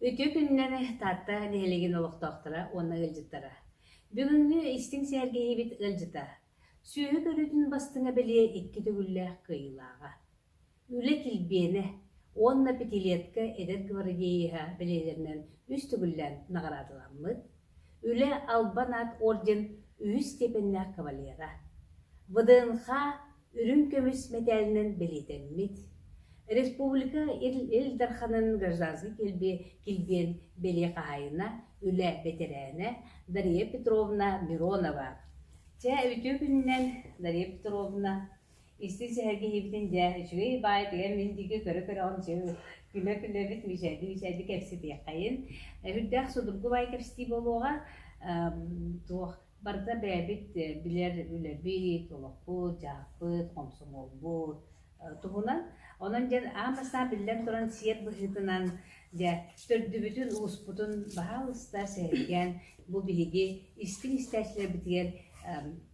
Үтүө күннэри Таатта нэһилиэгин олохтоохторо уонна ыалдьыттара! Бүгүҥҥү истиҥ сэргэһиибит ыалдьыта! Сүөһү көрүүтүн бастыҥа бэлиэ икки төгүллээх кыайыылааҕа. Үлэ килбиэнэ уонна пятилетка эдэр гвардееһа бэлиэлэринэн үс төгүллээн наҕараадаламмыт, Үлэ Албан аат орден үһүс степеннээх кавалера, ВДНХ үрүҥ көмүс мэтээлинэн бэлиэтэммит, Республика Ил Дарханын гражданскай килбиэн бэлиэ хаһаайына, үлэ бэтэрээнэ Дария Петровна Миронова. Чэ, үтүө күнүнэн, Дария Петровна! Истин сэһэргэһиибитин дьэ үчүгэй баай тыгар мин диэки көрө-көрөҕүн күлэ-күлэбит мичээрди-мичээрди кэпсэтиэххэйин үрдээх судургу баай кэпсэтии буолуоҕа туох барыта бэйэбит билэр үлэбит олохпут дьаһахпыт хомсомуолбут туһунан онон дьэ аан бастаан биллэн туран сиэр быһыытынан дьэ төрдүбүтүн успутун баһаалыста сэһэргээн бу биһиги истиҥ истээччилэрбитигэр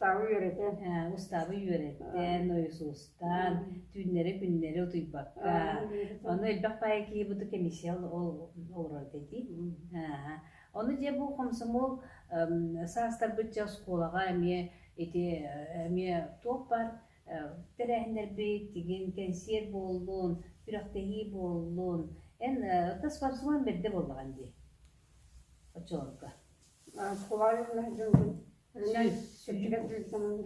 Устаабы үөрэтэн, устаабы үөрэттэн, ойусустан, түүннэри-күннэри утуйбакка, ону элбэх баай киһи бу комиссия олорор эти. Ону дьэ бу хомсомол саастарбыт дьэ оскуолаҕа эмиэ ити эмиэ туох бар тэрээһиннэрбит, тигин кэнсиэр буоллун, күрэхтэһии буоллун, эн тас барсыман бэрдэ буоллаҕын дии оччолорго. Сколаевна дьылбын үрүнэн сөпчүгэр дьүрүттэнэн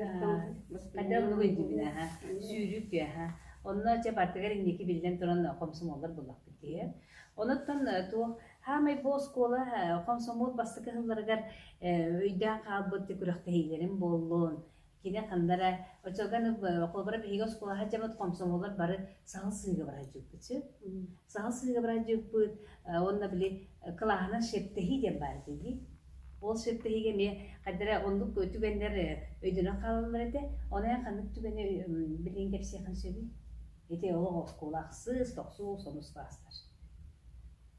Хайдах булуй дибинэ ха сүүрүү күө ха онно чэ партыгар инники биллэн туран хомсомуоллар буллахпыт киһи онуттан туох хаамай бу оскуола хомсомуол бастакы сылларыгар өйдөөн хаалбыт күрэхтэһиилэрим буоллун Кини ханна эрэ Очоганов холобура биһиги оскуола сылдьабыт хомсомуоллар бары саһыл сыыга быраадьыппыт үһү. Саһыл сыыга быраадьыппыт уонна били кылааһынан шептэһии диэн баар дии. Ол шептэһиигэ эмиэ хайдара оннук түгэннэр өйдөнөн хаалаллар этэ. Ону эн ханнык түгэни билигин кэпсиэххин сөбүй? Ити олох оскуола ахсыс, тохсус, онус класстар.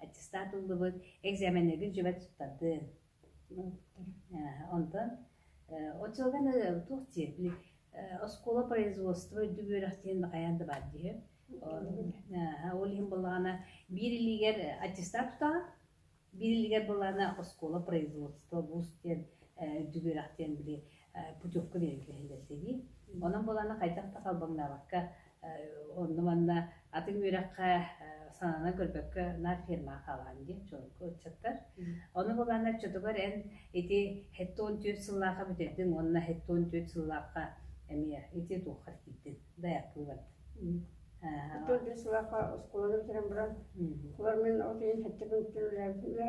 аттестат ыллыбыт, экзаменыгын жевать туттардын. Онтон от сылганы туох диэбили оскуола производство үрдүк үөрэх диэн хайаан да баар диһи. Ол иһин боллаана биир илигер аттестат тутаҕа, биир илигер боллаана оскуола производство бус диэн үрдүк үөрэх диэн били путевка берилгиһилэр дии. Онон боллаана хайдах да халбаҥнаабакка Онно манна атын үөрэххэ сананан көрбөккө наар фермаҕа хаалаҕын диэн чуолкай ыччаттар. Ону бабаана оччотугар эн ити сэттэ уон түөрт сыллаахха бүтэрдиҥ уонна сэттэ уон түөрт сыллаахха эмиэ ити туохха киирдин дайаактыы бардыҥ. Сэттэ уон түөрт сыллаахха оскуоланы бүтэрэн баран, олор мин ол иһин сэттэ күн бүтүн үлээбитин үөрэ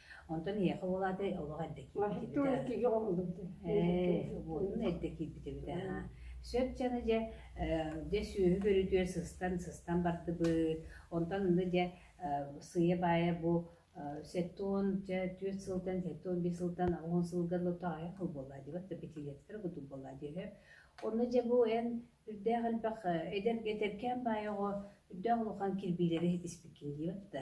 Онтон эһиэхэ ол аата олох эрдэ киирбитэ. Ээ, буолун эрдэ киирбитэ эбитэ. Сөп дьаны дьэ дьэ сүөһү көрүтүөр сыстан сыстан бардыбыт. Онтон ынды дьэ сыйа-баайа бу сэттон дьэ түөрт сылтан сэттон биир сылтан он сылга лотаайа хыл буолла диэбэт да битилиэттэрэ кутук буолла диэһэ. Онно дьэ бу эн үрдээх элбэх эдэр этэркээн баайаҕа үрдээх улахан кирбиилэри итиспиккин диэбэт да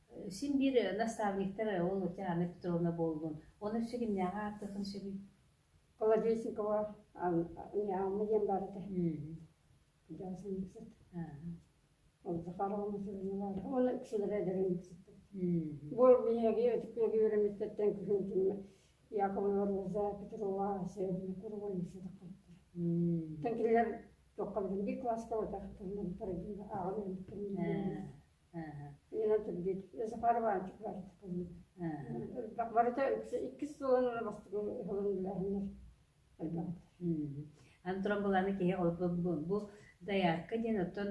Син биир наставниктар ол Диана Петровна буоллун, ону сигиннээҕи ааттыаххын сөбүй? Холодильникова Ньаалма диэн баар этэ. Ол Захарова Мусорина баар. Уонна кисилэрэ эдэрин киситтэр. Бу биһиги өтүкнэги үөрэммиттэртэн күһүн Яковлева Роза Петрова Северна Курова Тан кинилэр тоққабдын би класска отақтырнан парагин ааҕын Барыта иккис сылын бастыгы ыһылын билэһиннэр Антон быланы киһи бу заявка диэн оттон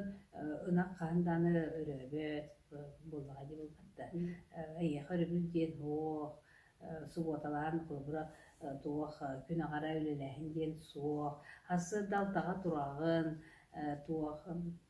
ынах хаһан дааны өрөөбөт буоллаҕа дии булбатта эйиэхэ өрөбүл диэн суох субуоталаан холобура туох күн аҕара үлэлээһин диэн суох хас сырда алтаҕа тураҕын туох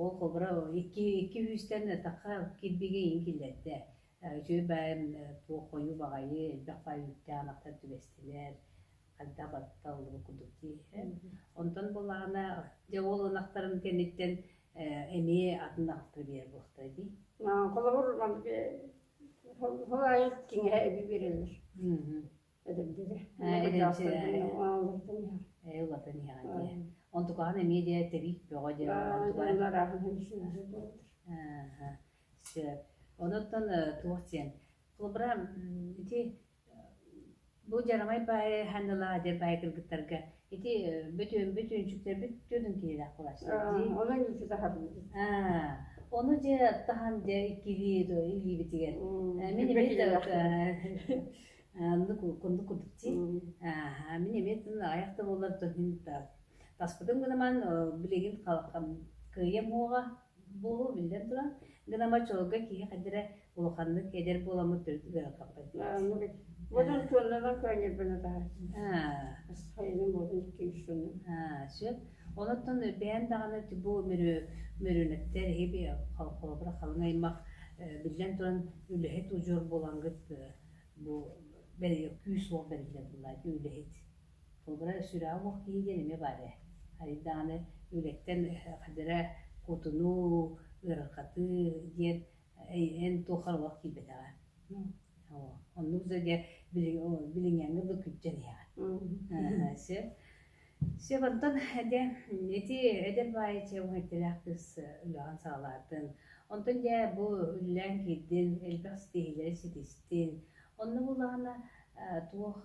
Оо, хоборо, икки икки күүстэн атахха кирбигэ иһин киллэрдэ. Үчүгэй баайым туох хойуу баҕайы элбэх баай үүттээх атахтар түбэстилэр, хайдах батталлыбыт курдук дии. Онтон буоллаҕына дьэ ол ынахтарын кэнниттэн эмиэ атын атахтары биэрэр буолуохтара дии. Холобур, ол аайы киҥэһэ эбии биэрэллэр. Ээ, улатын иһэҕин дии. Онтукаҕын эмиэ дии тэбиик бөҕө дии. Сөп. Онуттан туох диэн. Толбра, ити бу жарамай баайы ханнала дэр баайы кыргыттарга ити бүтүн бүтүнчүктэрбит түрүн киһилэх кулассыдии. Онон үчү таһабын. Аа, ону же таһан де иккилии до илиибитигэр. Мин Оннук курдук курдук дии. Аа, мин эмиэ тыл аҕыйах да буоллар то иһин таспытым гынаман билигин кыйым уоҕа буолу биллэн туран гынама чолга киһи хадыра улаханнык эдер буоламмыт төрүт ыарахаппат Модун туоннанан көөнньөрбөне таһар. Хайыным модун икки үшүнү. Аа, сөп. Онуттан бээн даҕаны бу мөрүнөттер хиби холобура халыҥ аймах биллэн туран үлэһит удьуор булангыт Бу бэрийэ күүс-уох бэриллэр бывает, үлэһит. Холобура, сүрэҕэ-уох киһи диэн эмиэ баар ээ. Айдааны үлэттэн хадара кутуну, ыарахатыы диэн эн туох харабылах киирбэтэҕэ. Оннук да билиҥ билиҥҥэҥҥэ да күддьэн иһэҕин. Чэ онтон дьэ ити эдэр баай чэбиҥ эттэлээх кыыс өлөҕөн саҕалаатын. Онтон дьэ бу үллээн киирдин, элбэх ситиһиилэри ситистин. Онно буоллаҕына э туох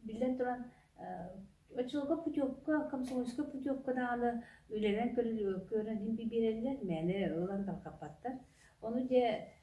биллэн туран оччолорго путевка, комсомольскай путевка даҕаны үлэлээн көрөн көрөн биэрэллэр, мээнэ ылан тарҕаппаттар. Ону дьэ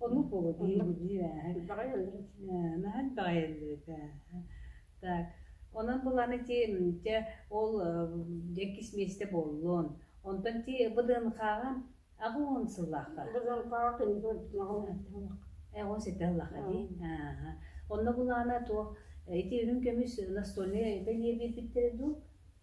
Ону холодиир-будиир наһаа элбэҕи так онон булан ити дьэ ол дьэкис миэстэ буоллун онтон ти быдыынхааҕан аҕыын сыллаха быдыынхааҕа эҕо сэтэ ыллаха дии онно булаана туох ити үрүн көмүс настольнай бэлиэ биэрбиттэрэ дуу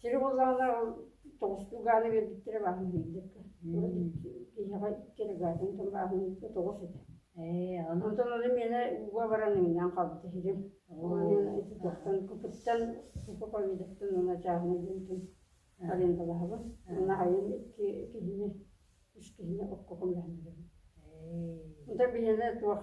Сир буоллаҕына ол тоҕустуу гааны биэрбиттэрэ бааһын биэрдэргэ. Киһиэхэ икки эрэ гаатын тон бааһын биэрдэ тоҕус этэ. Ээ, онтон ону миэнэ ууга баран иҥнээн хаалбыта иһирим. Ити туохтан купыттан купа ковидыттан уна чааһына диэнтин арендалаһабын. Наайын икки киһини үс киһини окко көмөлөһөллөрбүн. Онтон биһиэнэ туох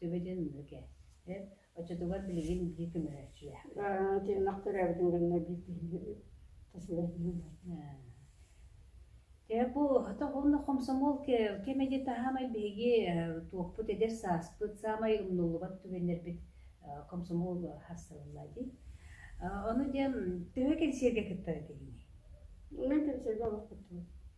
Төбөтүн мүкэ. Эр оччотугар билигин биир көмөлөччүлээхпин. Тиэмнэх төрөөбүтүн кэннэ биир киһи тасылайдым. Дьэ бу уонна хомсомол кэми де таһаамай биһиги туохпут эдэр сааспыт саамай умнуллубат түгэннэрбит комсомол хасталылла дии. Ону диэн төһө кэнсиэргэ кыттар этиһиҥ? Мен кэнсиэргэ олохпутпут.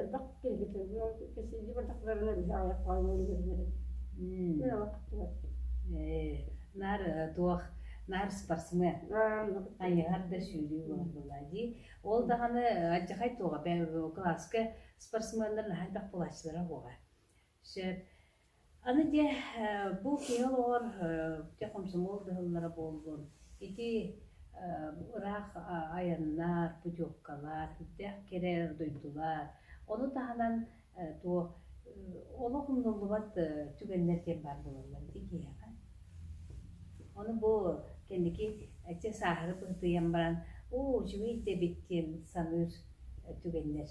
элбэх киһитэ кэсиди бардахларына биһи аҕалар хаалан өлөрөлөрө мин аҕа кыттыбаттым наар туох наар спортсмен хайыһар да сүүрүү буолла дии ол даҕаны алдьархай туоҕа кылааска спортсменнар наһаа элбэх булааччылара буолар Сөп. Аны дьэ, э, бу киһи олоҕор э, дьэ хомсомуол дьаһаллара буоллун, ити э, ыраах а- айаннар, путевкалар, сүрдээх кэрэ дойдулар, ону таһынан э, туох э, олох умнуллубат э, түгэннэр диэн баар буолаллар ити киһиэхэ. Ону бу кэнники эчи сааһыры быһытыйан баран, оо, живей дэбиккин саныыр э, түгэннэр.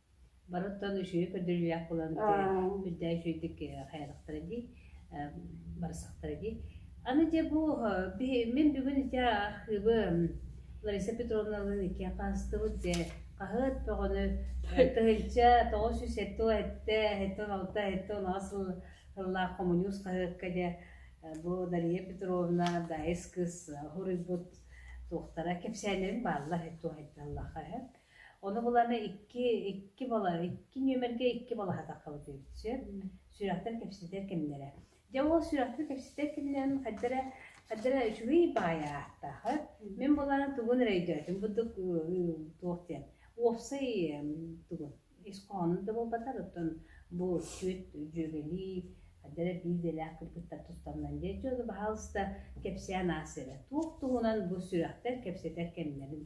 Барыттан үчүгэй көрдөрүүлээх буолан үрдээ үчүгэйдик хайаатахтара дии барсахтара дии. Аны дьэ бу мин бүгүн дьэ архыыбы Лариса Петровналыын икки хаастыбыт дьэ хаһыат бөҕөнү тыһыынча тоҕус сүүс сэттэ уон сэттэ сэттэ уон алта сэттэ уон аҕыс сыллаах хомуньуус хаһыакка дьэ бу Дария Петровна Дайыс кыыс хоруйбут туохтара кэпсээннэрин бааллар туохайдаллаах Ону буланы икки икки бола икки нүөмэргэ икки болаһатахха бытыыт сөп. Сүрэхтэр кэпсэтэр кэмнэрэ. Дьэ ол сүрэхтэр кэпсэтэр кэмнэрин хайдара хайдара үчүгэй баайа ааттаахыт. Мин буланы тугун эрэ өйдөөтүм бурдук туох диэн уопсай тугун искоонун да буолбатар оттон бу сүөт дьүөгэлии хайдара биирдэлээх кыргыттар туттаннан дьэ дьону баһаалыста кэпсээн аас эрэ туох туһунан бу сүрэхтэр кэпсэтэр кэмнэрин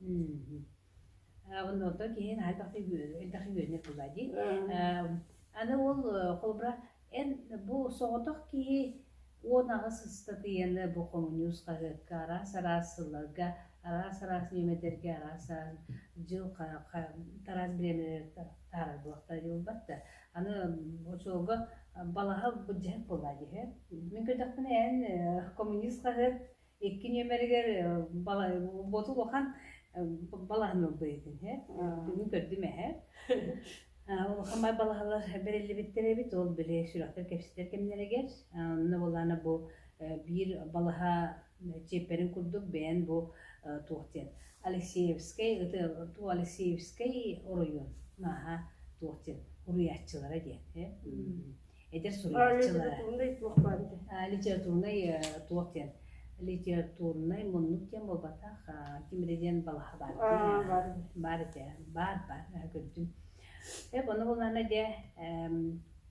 Мм. Аны оттон киһи хайдах да элбэх үөрэнэр буолла дии. Аны ол холобура эн бу соҕотох киһи уон аҕыс ыстатыйаны бу хомуньуус хаһыакка араас-араас сылларга, араас-араас нүөмэрдэргэ араас-араас дьыл тараас бириэмэлэригэр таарар буолбаттар. Аны очуолга балаһа былдьаһык буолла дии. Мин көрдөхпүнэ эн хомуньуус хаһыат Икки нүөмэригэр ботук ухан балаһын ылбыйытын һэ. Бүгүн көрдүм эһэ. Улахан бай балаһалар бэриллибиттэр эбит. Ол били сүрэхтэр кэпсэтэр кэмнэригэр. Онно болаана бу биир балаһа чиэппэрин курдук бэйэн бу туох диэн Алексеевскай туу Алексеевскай оройуон нааһа туох диэн уруйааччылара диэн һэ. эдэр суруйааччылар литературнай туох диэн литературнай муннук диэн буолбатах ким эрэ диэн балаһа бар бар этэ бар бар көрдүм эп ону булнана де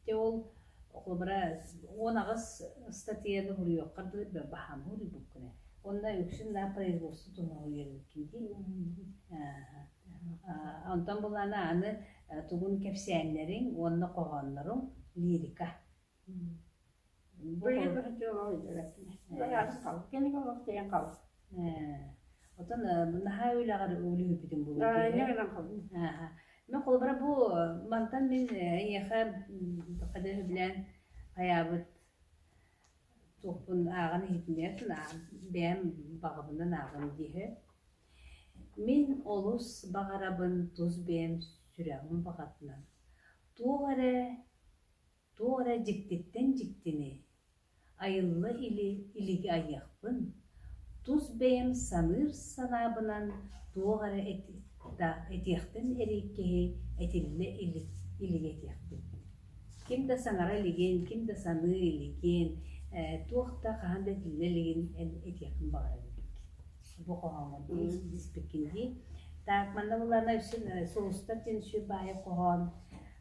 те ол окулубара он аҕыс статьяны хуруйуоххар дылы баһаам хуруйбуккуна онно үксүн да производство туһугуйан кинди онтон булана аны тугун кэпсээннэриҥ уонна хоһоонноруҥ лирика оттон наһаа үлэҕэр үлүһүйбүтүм мен холобура бу мантан мин эйиэхэ билээн хайаабыт туохпун ааҕан иһитиннэрэттэн бэйэм баҕабынан ааҕым диэһи Мин олус баҕарабын тус бэйэм сүрэҕим баҕатынан туох эрэ, туох эрэ дьиктиттэн дьиктини, айылла илик илиги айыахпын, тус бэйэм саныыр санаабынан туох эрэ этиэхтэн эрий киһи этиллэ илик илиги этиэхпин. Ким да саҥара илигин, ким да саныы илигин, туох да хаһан да этиллэ илигин этиэхпин баҕарабын. бу хоһооҥҥо испиккин дии. Так, манна буллана Суустар дин сүр баайа хоһоон.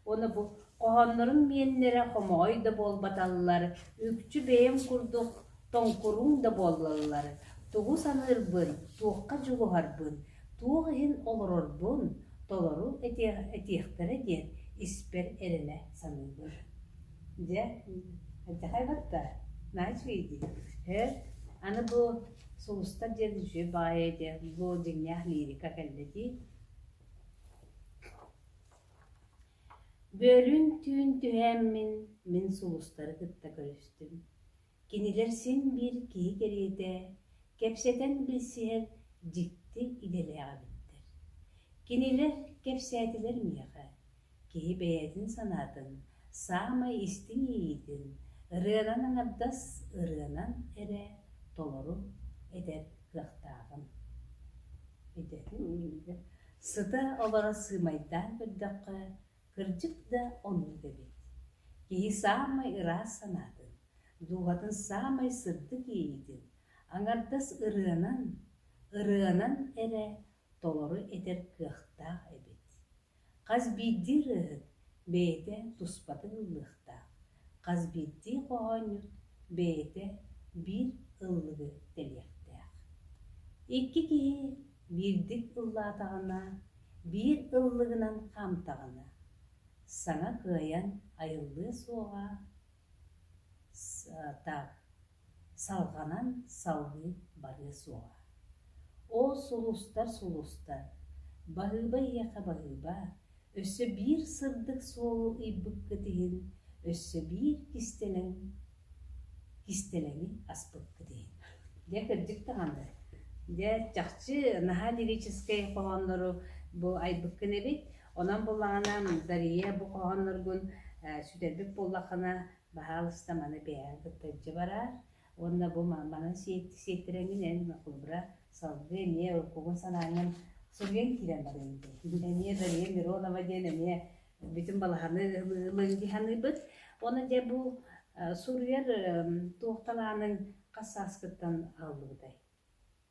Оны бу хоһооннорун миэннэрэ хомоҕой да буолбаталлар, үкчү бэйэм курдук тоҥкуруҥ да буоллаллар. Тугу саныырбын, туохха дьулуһарбын, туох иһин олорорбун толору этиэхтэрэ диэн испэр эрэнэ саныыбын Дьэ, хайдахай батта, наһаа үчүгэй дии. Һээ, аны бу сулустар диэн үчүгэй баайа этэ, бу дьиҥнээх лирика кэллэ дии. Бөөлүүн түүн түһээммин, мин сулустары кытта көрүстүм Кинилэр син-биир киһи кэриэтэ, кэпсэтэн билсиһэр дьикти идэлээх эбиттэр. Кинилэр кэпсээтилэр миэхэ, киһи бэйэтин санаатын, саамай истиҥ иэйиитин, ырыанан аҥардас ырыанан эрэ толору этэр кыахтааҕым. Идэтин иһигэр сыта-обара сыымайдаан көрдөххө, Кырдьык да оннук эбит. Киһи саамай ыраас санаатын, дууһатын саамай сырдык иэйиитин, аҥардас ырыанан, ырыанан эрэ толору этэр кыахтаах эбит. Хас биирдии ырыаһыт бэйэтэ туспатын ыллыахтаах, Хас биирдии хоһоонньут бэйэтэ биир ыллыгы тэлиэхтээх. Икки киһи биирдик ыллаатаҕына, биир ыллыгынан хаамтаҕына, саҥа кыайан айыллыа суоҕа сатаах. Салҕанан салгыы барыа суоҕа. Оо, сулустар, сулустар, Баһыыба эйиэхэ баһыыба, өссө биир сырдык суолу ыйбыккыт иһин, өссө биир кистэлэҥ кистэлэҥи аспыккыт иһин. Дьэ, кырдьык даҕаны, дьэ, чахчы наһаа лирическэй хоһооннору бу айбыккын эбит. Онон буоллаҕына, Дария бу хоһоонноргун сүтэрбит буоллаххына, Баһаалыста маны кыайан кытта илдьэ бараар уонна бу манан сиэттэрэҥҥин эн холобура салгыы эмиэ кугун санааҥҥын суруйан киирэн барыаҥ дии. Эмиэ Дария Миронова диэн эмиэ бүтүн балаһаны ылыҥ саныыбыт. Онон дьэ бу суруйар туох талааныҥ хас сааскыттан аҕаллыбытай?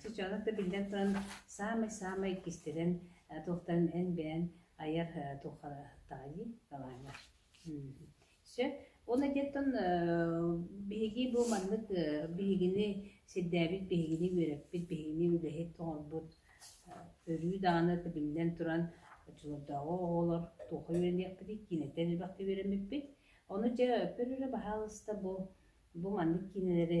Чыччаанап да биллэн туран саамай-саамай кистэлэҥ туохтарын эн бэйэҥ айар туохтаҕый балааҥҥа? Сөп. Ол этиэттэн биһиги бу маннык биһигини сирдээбит, биһигини үөрэппит, биһигини үлэһит оҥорбут өрүү даҕаны да биллэн туран оччолордооҕу оҕолор туохха үөрэниэхпитий, киинэттэн элбэхтик үөрэммиппит. Ону дьэ, көрөрө баһаалыста бу, бу маннык киинэлэри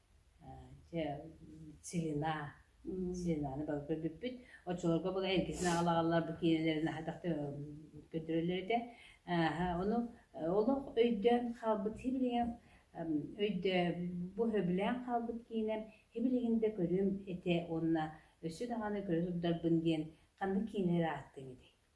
Чэ, Силила, Силиланы бары көрбүппүт. Оччолорго бу эргитин аҕалаллар бу киинэлэрин хайдах да көрдөрөллөр этэ. Ааһа, ону олох өйдөөн хаалбыт сибилигин өйдө бу сөбүлээн хаалбыт киинэм сибилигин да көрүм этэ уонна өссө даҕаны көрө турдарбын диэн ханнык киинэлэр ааттыыҥ этэй?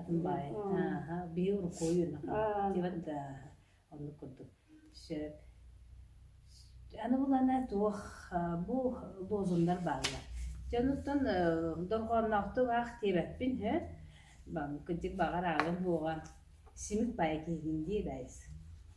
атын баайын ааха биир рукою диэбэт да оннук курдук сөп аны булана туох бу лозуннар бааллар дьэ онуттан дорҕоонноохтук аах диэбэппин һө кырдьык баҕар ааҕын буоҕа симик баай киһитин дии дайыс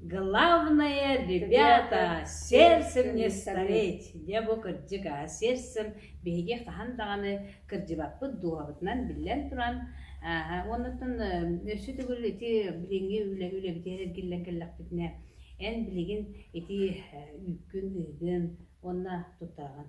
Главное, ребята, сердцем не стареть! Дьэ бу кырдьык аа, сердцем биһиги хаһан даҕаны кырдьыбаппыт дууһабытынан биллэн туран ааһа уонуттан өссө төгүл ити билиҥҥи үлэ үлэбитигэр эргиллэн кэллэхпитинэ эн билигин ити үүккүн ыыгын уонна туттаҕын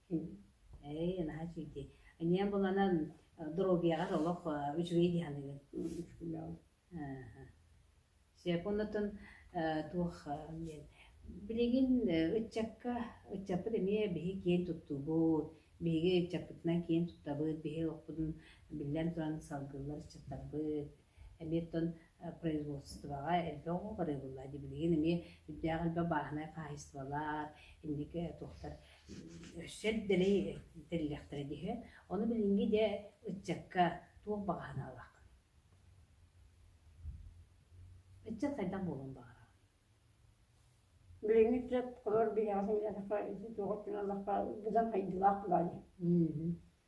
Ээй, наһаа киитий. Иньэ буланан доруобуйаҕар олох үчүгэй дии саныыгын. Секундатын туох диэн билигин ыччакка ыччаппыт эмиэ биһи киэн туттуубут биһиги ыччаппытынан киэн туттабыт биһи олохпутун биллэн туран салгыллар ыччаттарбыт Эмиэ оттон производствоҕа элбэх оҕо барыыллаах дии билигин эмиэ үрдээх элбэх бааһынай хаһаайыстыбалар инники туохтар өссө дэлэй тэриллиэхтэрэ дии ону билиҥҥи дьэ ыччакка туох баҕаһын ылаҕын ыччат хайдах буолуон баҕараҕын билиҥҥи ыччат олор биһиэхэ сэмэлэтэххэ ити туох өттүнэн быдан хайдылаах баай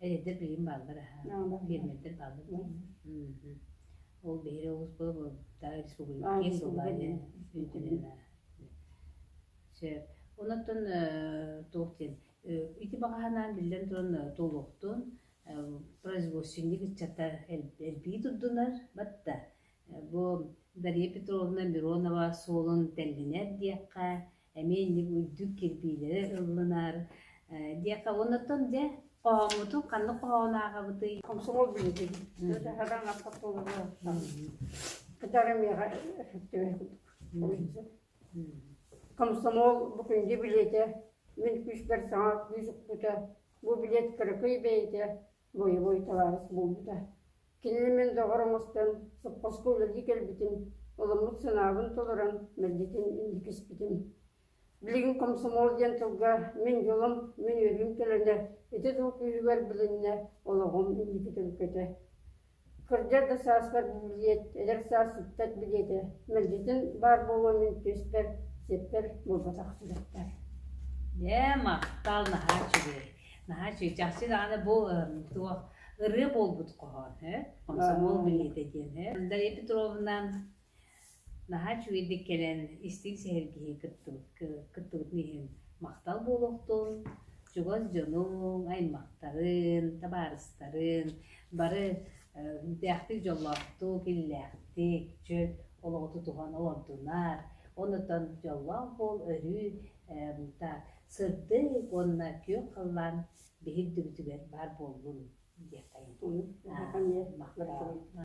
Эдэрдэр билим бааллар аха. Фермердэр бааллар билим. Ол биһире олус буолбута республика киин глобальный үнтүлүнэ. Сөп. Онотон туох диэн ити баҕаһанаан биллэн туран толуктун производственник ыччата элпии турдунар батта бу Дария Петровна Миронова суолун тэллинэр диэххэ эмиэ инник үрдүк кирбиилэрэ ыллынаар диэххэ оннуттан дьэ хоһооммутун ханнык хоһоон ааҕабытый комсомол билиэтин таһадан автоколону кытары миэхэ комсомол бу күндү билиэтэ мин күүспэр саҥа күүс укпута бу билиэт кыракый бэйэтэ Боевой табаарыс буолбута. Кинини мин доҕор оҥостон, сопхуоска үлэлии кэлбитим, ылыммыт санаабын толорон, мэлдьитин инники испитим. Билигин комсомол диэн тылга мин дьолум, мин үөрүүм көлөнө ити тыл күүһүгэр билиннэ, олоҕум инники төлкөтө. Кырдьар да сааспар билиэт, эдэр саас сүппэт билиэтэ мэлдьитин баар буолуо мин түөспэр, сиэппэр буолбатах сүрэхпэр Дьэ, махтал наһаа үчүгэй, наһаа үчүгэй. Чахчы даҕаны бу туох ырыа буолбут хоһоон, ээ? Комсомол билиэтэ диэн, ээ. Дарья Петровна Наһаа үчүгэйдик кэлэн истиҥ сэһэргэһии кыттыбытын иһин махтал буолуохтун, чугас дьонуҥ, аймахтарын, табаарыстарын бары үрдээхтик дьоллоохтук, иллээхтик, чөл олоҕу тутуһан олордунар. Онутан дьоллоох буол, өрүү сырдык уонна күөх халлаан биһирдибитигэр баар буоллун диэххэйин. Махтал.